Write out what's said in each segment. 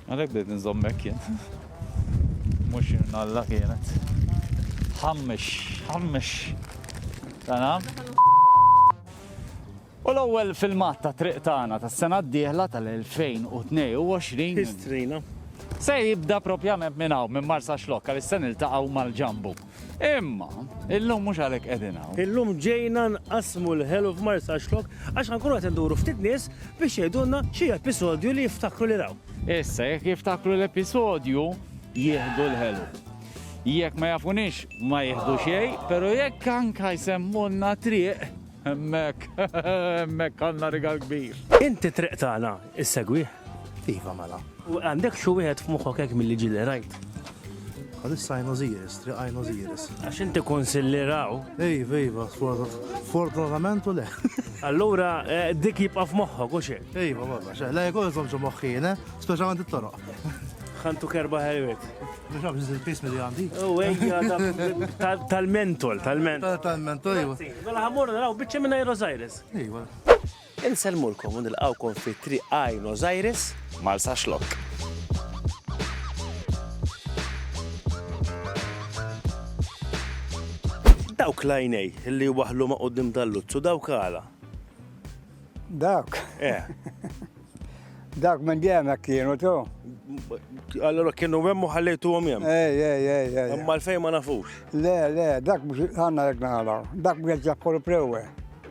Għalek bdejt nżommek jien. Mux nalla kienet. Ħammex, ħammex. Tana? U l-ewwel filmat ta' triq tagħna tas-sena d-dieħla tal-2022. Histrina. Se jibda propjament minn hawn minn Marsa Xlokka li se niltaqgħu mal-ġambu. Imma, illum mhux għalhekk qegħdin hawn. Illum ġejna nqasmu l-ħelu f'Marsaxlok għax ħankunu qed induru ftit nies biex jgħidulna xi episodju li jiftakru li raw. Issa jekk jiftakru l-episodju jieħdu l-ħelu. Jekk ma jafunix ma jieħdu xejn, però jekk anka jsemmulna triq hemmhekk hemmhekk għandna rigal kbir. Inti triq tagħna, Issegwih? Iva mela. U għandek xi wieħed f'moħħok hekk milli ġieli rajt? Għalissa għajn Osiris, triq għajn Osiris. Għax inti konsilliraw. Iva, iva, fortunatament u le. Allura, eh, dik jibqa' f'moħħok u xejn. Iva, barra, xejn, la jkun iżom ġo moħħina, eh? speċjalment it-toroq. Ħantu kerba ħelwet. Mux għab ġizil pismi li għandi. U għejja, tal-mentol, tal-mentol. Tal-mentol, iva. Mela ħamur naraw bieċe minna Iros Aires. Iva. Insellmulkom u nilqgħukom fi Triq Aenos Aires, Marsaxlokk. Dawk l-għajnej li waħlu ma' quddiem dal-luzzu, dawk għala? Dawk? Eh. Dawk minn dejjem hekk kienu tu. Allora kienu hemm u ħallejtuhom hemm. Ej, ej, ej, ej. Imma l-fejn ma nafux. Le, le, dak mhux għandna hekk nagħlgħu. Dak mhux qed jaħkolu prewwe.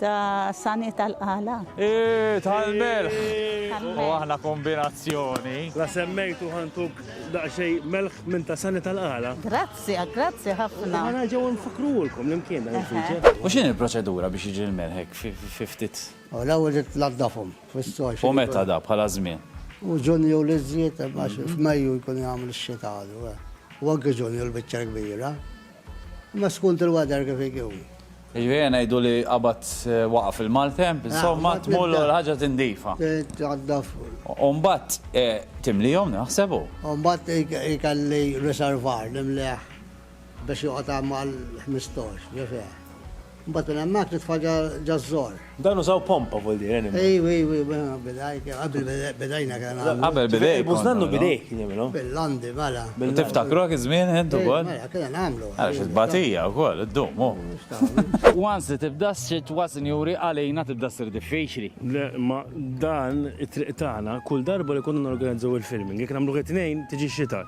Ta' sani tal-qala. Eeh, tal-melħ! U aħna kombinazzjoni. La semmejtu ħantuk daqsxejn melħ minn ta' sani tal-qala. Grazzi, grazzi ħafna. Ħa nerġgħu nfakkrulkom l-imkien dan il-feature. U x'inhi l-proċedura biex jiġi l-melħ hekk fi ftit. U l-ewwel irid tnaddafhom fis-soj. U meta da, bħala żmien? U Ġunju l-iżjed, għax f'Mejju jkun jagħmel ix-xita għadu. Huwa anke Ġunju l-biċċa l-kbira. Imma skont il-weather kif ikun. Jiġifieri ngħidu li qabad waqaf il-maltemp, insomma tmur u l-ħaġa tindifa. Titnaddaf. U mbagħad timlihom naħseb u. U mbagħad ikelli riservar nimlieh biex joqgħod hemm għal ħmistax, ġifier. Mbagħad minn hemmhekk nitfa' ġaż-żor. Dan użaw pompa vuol dire enima. Ejw ejw ejw mela bidajk qabel bidajna kellna nagħmlu. Qabel bidejk. Tejbu żnannu bidejk nagħmlu. Bil-landi mela. Tiftakruha kif żmien int ukoll? Mela kellna nagħmlu. Ara xi tbatija wkoll iddum hu. Once li tibda s-sitwa sinjuri għalina tibda ssir diffiċli. Le imma dan it-triq tagħna kull darba li konna norganizzaw il-filming jekk nagħmluh it-Tnejn tiġi x-Xita.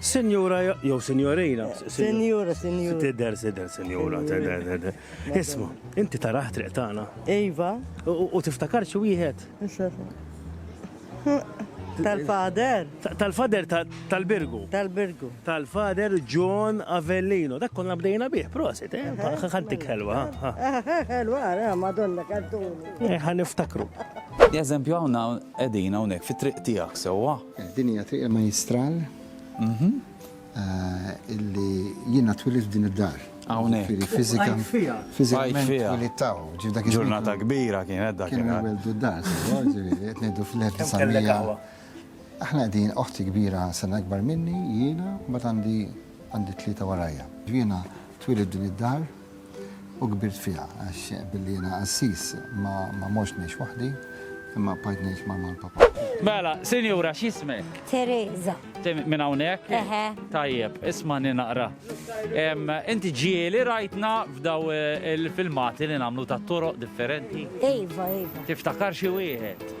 Sinjura jew sinjorina. Sinjura, sinjura. Tidher, tidher, sinjura, tidher, tidher. Isma, inti taraħ triq tagħna. Iva. U tiftakar xi wieħed? Tal-fader. Tal-fader tal-Birgu. Tal-Birgu. Tal-fader John Avellino. Dak konna bdejna bih, prosit, eh? Ħantik ħelwa. Ħelwa, eh, madonna, kantuni. Eh, ħaniftakru. Eżempju, għawna edina unek fit-triq tijak sewa. Din hija triq il-Majjistral illi jiena twilidt f'din id-dar. Hawnhekk. Jiġifieri fiżika. Bqajt fiha. Fiżikament twilidt hawn. Ġifieri dak iż-żmien. Ġurnata kbira kienet dak. Kienu jwelldu d-dar, sewa, ġifieri qed ngħidu fl-1900. Kemm kellek aħwa? Aħna qegħdin oħti kbira sena ikbar minni, jiena, mbagħad għandi tlieta warajja. Jiena twilidt f'din id-dar. U kbirt fiha, għax billi jiena qassis ma mortx ngħix waħdi, imma bqajt ngħix ma' mal-Papa. Mela, sinjura, x'jismek? Tereża. Minn hawnhekk? Eħe. Tajjeb, ismagħni naqra. Inti ġieli rajtna f'daw il-filmati li nagħmlu tat-toroq differenti? Iva, iva. Tiftakar xi wieħed?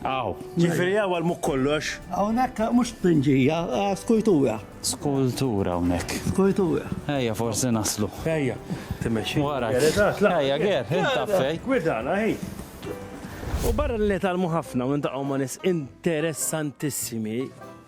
Hawn. Ġifieri hawn għal mhu kollox. Hawn hekk mhux tpinġija, skultura. Skultura hawnhekk. Skultura. Ejja forsi naslu. Ejja. Timmexxi. Wara. Ejja Ger, int taf fejn. Gwidana hi. U barra li nitgħallmu ħafna u niltaqgħu ma' nies interessantissimi,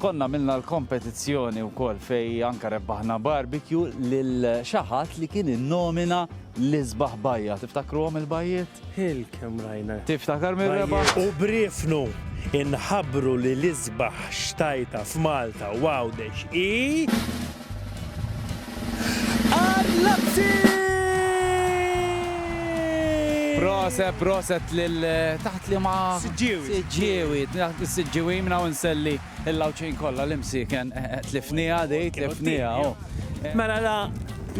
Konna għamilna l-kompetizzjoni wkoll fejn anke rebbaħna barbecue lil xi ħadd li kien innomina l-isbaħ bajja. Tiftakruhom il-bajjiet? Hil kemm rajna. Tiftakar min rebaħ? U b'riefnu inħabbru li l-isbaħ xtajta f'Malta u Għawdex hi. għal Lazio! Proset, proset lil taħt li ma. Siġġiewi. Siġġiewi, taħt is-siġġiewi minn hawn nselli l-lawċin kollha li msiken eh, eh, tlifnija di, tlifnija. Oh. Mela la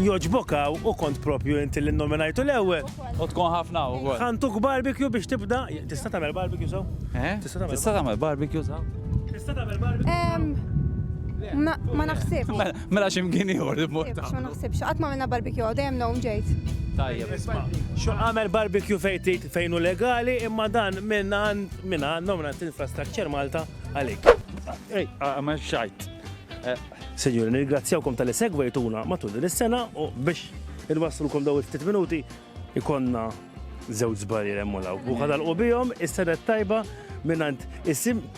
joġbokaw u kont propju inti li nominajtu l-ewwel. U tkun ħafna u għol. Ħantuk barbecue biex tibda. Tista' tagħmel barbecue saw? Eh? Tista' tagħmel barbecue saw? Tista' tagħmel barbecue? Ma naħsibx. Mela, Mela x'imkien ieħor li mmur tagħmlu. Ma naħsibx, qatt ma għamilna barbecue hawn, dejjem known ġejt. Tajjeb. Xo għamel barbecue fejn fejn hu legali imma dan minn għand minn għandhom għand infrastructure Malta għalik. Ej, għamel xajt. Senjur, nirgrazzjawkom tal-li segwejtuna matul din is-sena u biex il-waslulkom daw il-ftit minuti ikonna żewġ żbarri remmu law. U ħadalqu bihom is-sena tajba minn għand isim